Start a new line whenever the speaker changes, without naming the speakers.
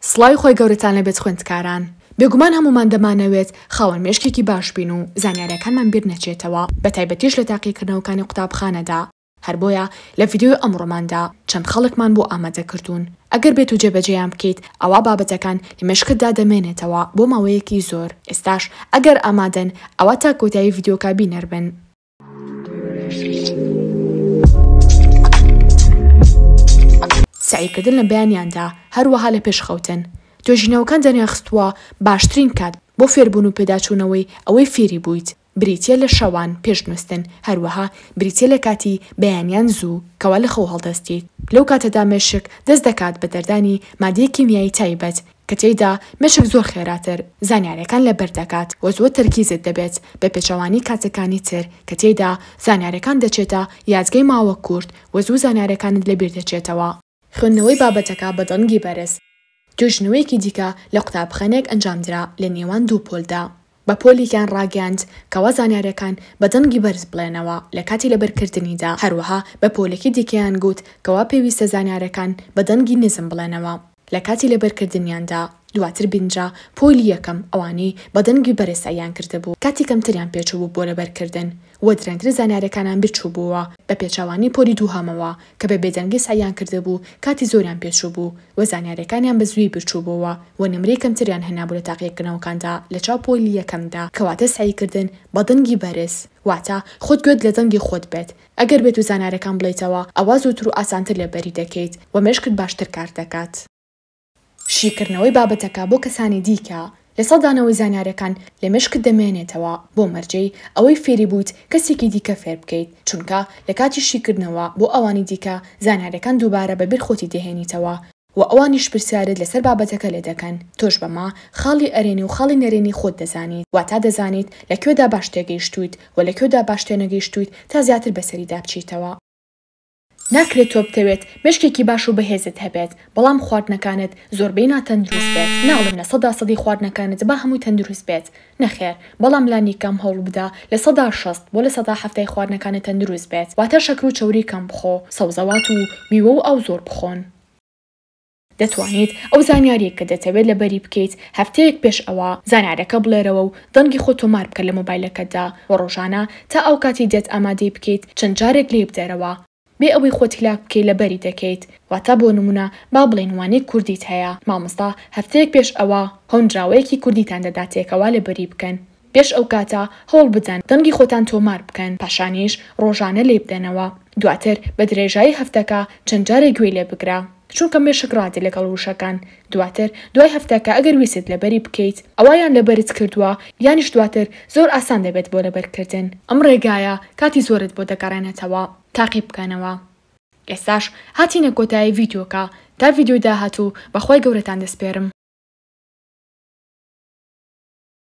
سڵاوی خوای گەورەتان لێ بێت خوێندکاران، بێگومان هەموومان دەمانەوێت خاوەن مێشکێکی باش بین و زانیاریەکانمان بیر نەچێتەوە بە تایبەتیش لە تاقیکردنەوەکانی قوتابخانەدا، هەر بۆیە لە ڤیدیۆی ئەمڕۆماندا چەند خاڵێکمان بۆ ئامادە کردوون ئەگەر بێت و جێبەجێیان بکەیت ئەوا بابەتەکان لە مێشکتدا دەمێنێتەوە بۆ ماوەیەکی زۆر، ئێستاش ئەگەر ئامادەن ئەوا تا کۆتایی ڤیدیۆکە بینەر بن. سەعیکردن لە بەیانیاندا هەروەها لە پێش خەوتن توێژینەوەکان دەریانخستووە باشترین کات بۆ فێربوون و پێداچوونەوەی ئەوەی فێری بوویت بریتییە لە شەوان پێش نووستن هەروەها بریتییە لە کاتی بەیانیان زوو کەوا لە خەو هەڵدەستیت لەو کاتەدا مێشک دەست دەکات بە دەردانی مادەی کیمیایی تایبەت کە تێیدا مێشک زۆر خێراتر زانیاریەکان لەبەر دەکات و زۆر تەرکیزت دەبێت بە پێچەوانەی کاتەکانی تر کە تێیدا زانیاریەکان دەچێتە یادگەی ماوە کورت و زوو زانیاریەکانت لەبیر دەچێتەوە. خوێندنەوەی بابەتەکە بە دەنگی بەرز. توێژینەوەیەکی دیکە لە قوتابخانەیەک ئەنجامدرا لە نێوان دوو پۆلدا، بە پۆلیان ڕاگەیاند کەوا زانیاریەکان بە دەنگی بەرز بڵێنەوە لەکاتی لەبەرکردنیدا، هەروەها بە پۆلێکی دیکەیان گوت کەوا پێویستە زانیاریەکان بە دەنگی نزم بڵێنەوە لەکاتی لەبەرکردنیاندا، دواتر بینرا پۆلی یەکەم ئەوانەی بە دەنگی بەرز سەعیان کردبوو کاتی کەمتریان پێچووبوو بۆ لەبەرکردن، و درەنگتر زانیارەکانان بیرچووبووەوە بە پێچەوانەی پۆلی دووهەمەوە کە بە بێدەنگی سەعیان کردبوو کاتی زۆریان پێچووبوو و زانیارەکانیان بە زووی بیرچووبووەوە و نمرەی کەمتریان هێنابوو لە تاقیەکردنەوەکاندا لە چاو پۆلی یەکەمدا کەواتە سەعی کردن بە دەنگی بەرز واتە خۆت گوێت لە دەنگی خۆت بێت ئەگەر بێت و زانارەکان بڵێیتەوە ئەوا زووتر و ئاسانتر لێبەری دەکەیت و مێشکت باشتر کار دەکات. شیکردنەوەی بابەتەکە بۆ کەسانی دیکە، لە سەدانەوەی زانیاریەکان لە مێشکت دەمێنێتەوە بۆ مەرجەی ئەوەی فێری بوویت کەسێکی دیکە فێر بکەیت، چونکە لە کاتی شیکردنەوە بۆ ئەوانی دیکە زانیاریەکان دووبارە بە بیر خۆتی دەهێنیتەوە و ئەوانیش پرسیارت لەسەر بابەتەکە لێ دەکەن، تۆش بەمە خاڵی ئەرێنی و خاڵی نەرێنی خۆت دەزانیت، واتا دەزانیت لە کوێدا باش تێگەیشتوویت و لە کوێدا باش تێنەگەیشتوویت تا زیاتر بەسەریدا بچیتەوە. ناکرێت تۆ بتەوێت مێشکێکی باش و بەهێزت هەبێت بەڵام خواردنەکانت زۆربەی ناتەندروست بێت، ناڵێم لە سەدا سەدی خواردنەکانت با هەمووی تەندروست بێت نەخێر بەڵام لانی کەم هەوڵبدە لە سەدا شەست بۆ لە سەدا حەفتای خواردنەکانت تەندروست بێت واتە شەکر و چەوری کەم بخۆ سەوزەوات و میوە و ئاو زۆر بخۆن. دەتوانیت ئەو زانیارییەی کە دەتەوێت لەبەری بکەیت هەفتەیەک پێش ئەوە زانیارەکە بڵێرەوە و دەنگی خۆت تۆمار بکە لە مۆبایلەکەتدا و ڕۆژانە تا ئەو کاتەی دێت ئامادەی بکەیت چەند جارێک لێی بدەرەوە بێ ئەوەی خۆت هیلاک بکەیت لەبەری دەکەیت واتە بۆ نموونە با بڵێین وانەی کوردیت هەیە مامۆستا هەفتەیەک پێش ئەوە هۆنراوەیەکی کوردیتان دەداتێکەوە لەبەری بکەن پێش ئەو کاتە هەوڵ بدەن دەنگی خۆتان تۆمار بکەن، پاشانیش ڕۆژانە لێی بدەنەوە، دواتر بە درێژایی هەفتەکە چەند جارێک گوێی لێ بگرە، چونکە مێشک ڕادە لەگەڵ وشەکان، دواتر دوای هەفتەکە ئەگەر ویستت لەبەری بکەیت ئەوا یان لەبەرت کردووە یانیش دواتر زۆر ئاسان دەبێت بۆ لەبەرکردن. ئەم ڕێگایە کاتی زۆرت بۆ دەگەڕێنێتەوە، تاقی بکەنەوە. ئێستاش هاتینە کۆتایی ڤیدیۆکە، تا ڤیدیۆی داهاتوو بە خوای گەورەتان دەسپێرم.